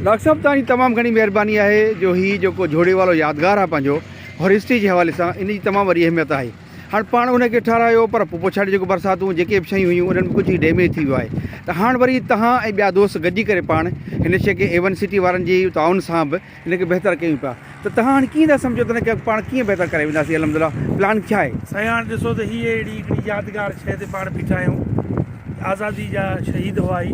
Doctor صاحب توهان جي تمام گهڻي مهرباني آهي جو هي جيڪو جهوڙي وارو يادگار آهي پنهنجو هرستي جي حوالي سان ان جي تمام وڏي اهميت آهي هاڻ پاڻ ان کي ٺهرايو پر پوء پڇاڙي جيڪو برساتون جيڪي به شيون هيون انهن ۾ ڪجهه هي ڊيميج ٿي ويو آهي ته هاڻ وري توهان ۽ ٻيا دوست گڏجي ڪري پاڻ هن شيء کي ايون سٽي وارن جي تعاون سان به ان کي بهتر ڪيون پيا ته توهان هاڻي ڪيئن ٿا سمجهو ته ان کي اڳ پاڻ ڪيئن بهتر ڪري وينداسين الحمدلله پلان ڇا آهي؟ سائين هاڻ ڏسو ته هيء اهڙي هڪڙي يادگار شيء تي پاڻ بيٺا آهيون ته آزادي جا شهيد هئا هي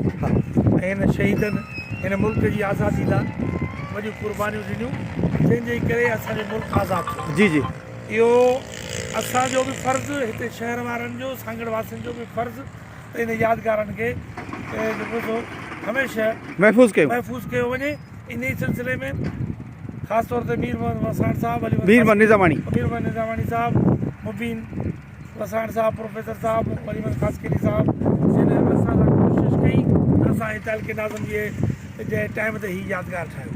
۽ هن شهيدن هن ملڪ جي آزادي لاء وڏيون قربانيون ڏنيون جنهن جي ڪري اسان جو ملڪ آزاد ٿيو جي جي اهو اسان جو به فرض هتي شهر وارن جو سانگهڙ واسين جو به فرض ته ان يادگارن کي جيڪو سو هميشه محفوظ ڪيون محفوظ ڪيو وڃي انهي سلسلي ۾ خاص طور تي مير محمد وساڻ صاحب علي مير محمد نظاماڻي مير محمد نظاماڻي صاحب مبين وساڻ صاحب پروفيسر صاحب علي محمد خاصخيلي صاحب جن اسان لاء ڪوشش ڪئي ته اسان هي تعلقي ناظم جي جي ٽائم تي هي يادگار ٺاهيو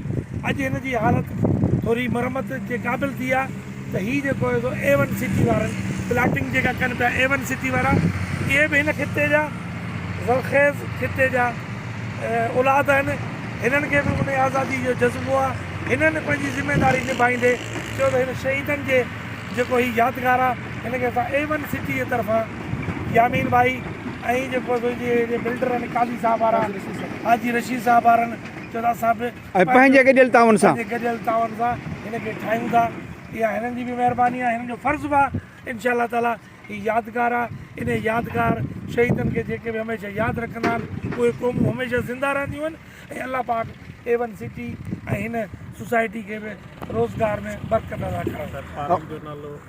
اڄ هن جي حالت ٿوري مرمت جي قابل ٿي آهي ته هي جيڪو آهي سو اي ون سٽي وارن پلاٽنگ جيڪا ڪن پيا اي ون سٽي وارا ڪي به هن خطي جا زرخيز خطي جا اولاد آهن هنن کي به ان آزادي جو جذبو آهي هنن پنهنجي ذميداري نڀائيندي چيو ته هن شهيدن جي جيڪو هي يادگار آهي هن کي اسان اي ون سٽي جي طرفان يامين ڀائي ۽ جيڪو سو جي بلڊر آهن قاضي صاحب وارا حاجي رشيد صاحب وارن چيو ته اسان به ۽ پنهنجي گڏيل تعاون سان. پنهنجي گڏيل تعاون سان هن کي ٺاهيون ٿا. اها هنن جي به مهرباني آهي، هنن جو فرض به آهي. ان شاء الله تعالٰي هي يادگار آهي. انهي يادگار شهيدن کي جيڪي به هميشه ياد رکندا آهن، اهي قومون هميشه زنده رهنديون آهن ۽ الله پاڪ اي ون سٽي ۽ هن سوسائٽي کي به روزگار ۾ برڪت عطا ڪرڻ.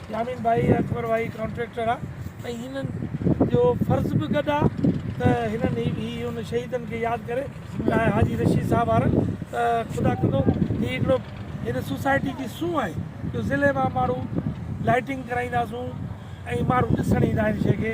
يامين ڀائي ۽ اڪبر ڀائي ڪانٽريڪٽر آ ۽ هنن جو فرض به گڏ آ ته هنن هي ان شهيدن کي ياد ڪري چاهي حاجي رشيد صاحب وارن ته خدا ڪندو هي هڪڙو هن سوسائٽي جي سونهن آهي جو ضلعي مان ماڻهو لائٽنگ ڪرائينداسون ۽ ماڻهو ڏسڻ ايندا آهن شي کي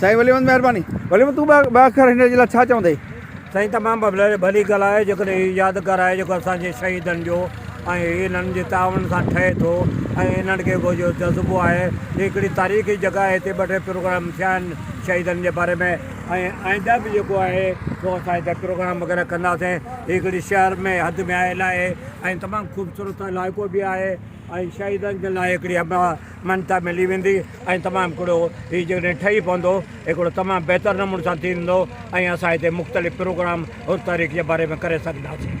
سائين ولي محمد مهرباني ولي محمد تون ٻه اکر هن جي لاء ڇا چوندين. سائين تمام ڀلي گال آهي جيڪڏهن هي يادگار آهي جيڪو اسان جي شهيدن جو ۽ انهن جي تعاون سان ٺهي ٿو ۽ انهن کي اهو جو جذبو آهي هي هڪڙي تاريخي جڳهه آهي هتي ٻه ٽي پروگرام ٿيا آهن شهيدن جي باري ۾ ۽ آئنده به جيڪو آهي سو اسان هتي پروگرام وغيره ڪنداسين هي هڪڙي شهر ۾ حد ۾ آيل آهي ۽ تمام خوبصورت علائقو به آهي ۽ شهيدن جي لاء هڪڙي مڃتا ملي ويندي ۽ تمام ھڪڙو ھي جيڪڏھن ٺھي پوندو ھڪڙو تمام بھتر نموني سان ٿيندو ۽ اسان ھتي مختلف پروگرام ھر تاريخ جي باري ۾ ڪري سگھنداسين.